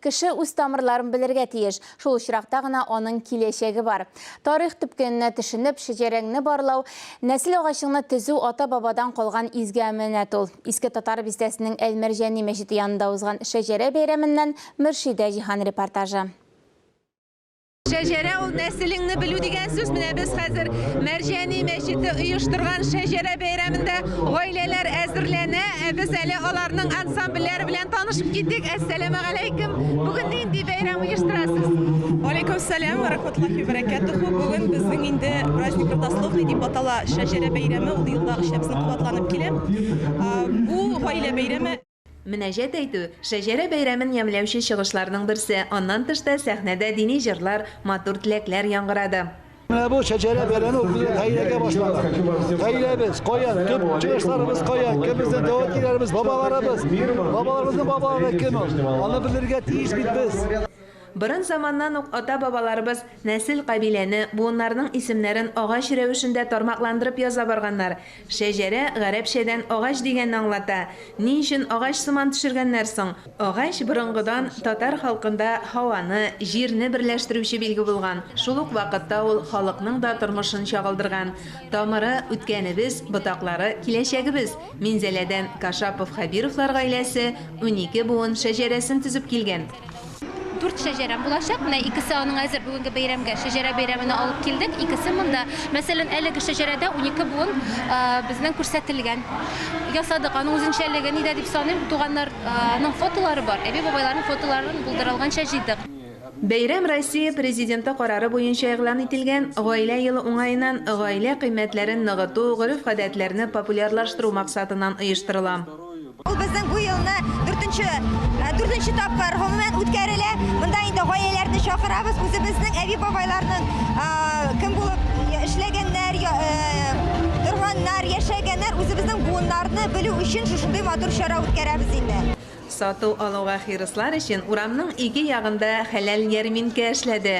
Кеше үз тамырларын белергә тиеш, шул очракта гына аның киләчәге бар. Тарих төпкененә төшенеп, шәҗәрәңне барлау, нәсел агачыңны төзү ата-бабадан калган изге әманәт ул. Иске Татар бистәсенең Әл-Мәрҗани мәчете янында узган шәҗәрә бәйрәменнән Мөршидә Җиһан репортажы. Шәҗәрә ул нәселеңне белү дигән сүз. Менә без хәзер Мәрҗәни мәчете оештырган шәҗәрә бәйрәмендә гаиләләр әзерләнә. Ә без әле аларның ансамбльләре белән танышып китик. Әссәламу алейкум. Бүген нинди бәйрәм оештырасыз? Алейкум сәлам ва рахматуллахи ва баракатуху. Бүген безнең инде праздник Рудословный дип атала шәҗәрә бәйрәме. Ул елда өч катланып килә. Бу гаилә бәйрәме. Мөнәҗәт әйтү, Шәҗәрә бәйрәмен ямьләүче чыгышларның берсе, аннан тыш та сәхнәдә дини җырлар, матур теләкләр яңгырады. Менә бу Шәҗәрә бәйрәме ул безнең гаиләгә башланган. Гаиләбез, каян, төп чыгышларыбыз каян, кем безнең тәвәкиләребез, бабаларыбыз, бабаларыбызның бабалары кем ул? Аны белергә тиеш бит без. Борын заманнан ук ата-бабаларыбыз нәсел-кабиләне, буыннарның исемнәрен агач рәвешендә тармакландырып яза барганнар. Шәҗәрә, гарәпчәдән агач дигәнне аңлата. Ни өчен агач сыман төшергәннәр соң? Агач борынгыдан татар халкында һаваны, җирне берләштерүче билге булган, шул ук вакытта ул халыкның да тормышын чагылдырган. Тамыры, үткәнебез, ботаклары, киләчәгебез. Минзәләдән Кашапов-Хәбировлар гаиләсе унике буын шәҗәрәсен төзеп килгән. Дүрт шәҗәрәм булачак. Менә икесе аның әзер бүгенге бәйрәмгә, шәҗәрә бәйрәменә алып килдек. Икесе монда. Мәсәлән, әлеге шәҗәрәдә унике буын безнең күрсәтелгән. Ясадык. Аның үзенчәлеге нидә дип саныйм, туганнарның фотолары бар. Әби-бабайларның фотоларын булдырылганча җыйдык. Бәйрәм Россия Президенты карары буенча игълан ителгән Гаилә елы уңаеннан гаилә кыйммәтләрен ныгыту, гореф-гадәтләрне популярлаштыру максатыннан оештырыла. Ул безнең бу елны дүртенче, дүртенче тапкыр гомумән үткәрелә. Монда инде гаиләләрне чакырабыз, үзебезнең әби-бабайларның кем булып эшләгәннәр, торганнар, яшәгәннәр, үзебезнең буыннарны белү өчен шушындый матур чара үткәрәбез инде. Сату-алуга хирыслар өчен урамның ике ягында хәләл ярминкә эшләде.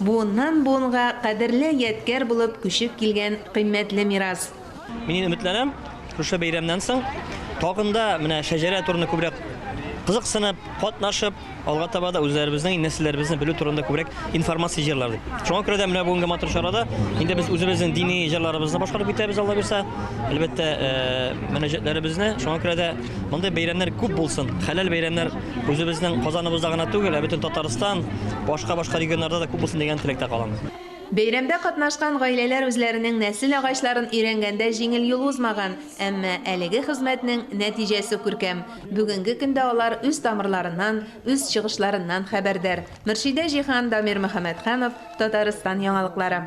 Буыннан буынга кадерле ядкәр булып күчеп килгән кыйммәтле мирас. Мин өметләнәм, шушы бәйрәмнән соң тагын да менә шәҗәрә турында күбрәк кызыксынып, катнашып, алга таба да үзләребезнең нәселләребезне белү турында күбрәк информация җыярлар дип. Шуңа күрә дә менә бүгенге матур чарада инде без үзебезнең дини җырларыбызны башкарып китәбез, Алла бирсә. Әлбәттә, мөнәҗәтләребезне. Шуңа күрә дә мондый бәйрәмнәр күп булсын, хәләл бәйрәмнәр Үзебезнең Казаныбызда гына түгел, ә бөтен Татарстан, башка-башка регионнарда да күп булсын дигән теләктә калам. Бәйрәмдә катнашкан гаиләләр үзләренең нәсел агачларын өйрәнгәндә җиңел юл узмаган, әмма әлеге хезмәтнең нәтиҗәсе күркәм. Бүгенге көндә алар үз тамырларыннан, үз чыгышларыннан хәбәрдар. Мөршидә Җиһан, Дамир Мөхәммәтханов, Татарстан яңалыклары.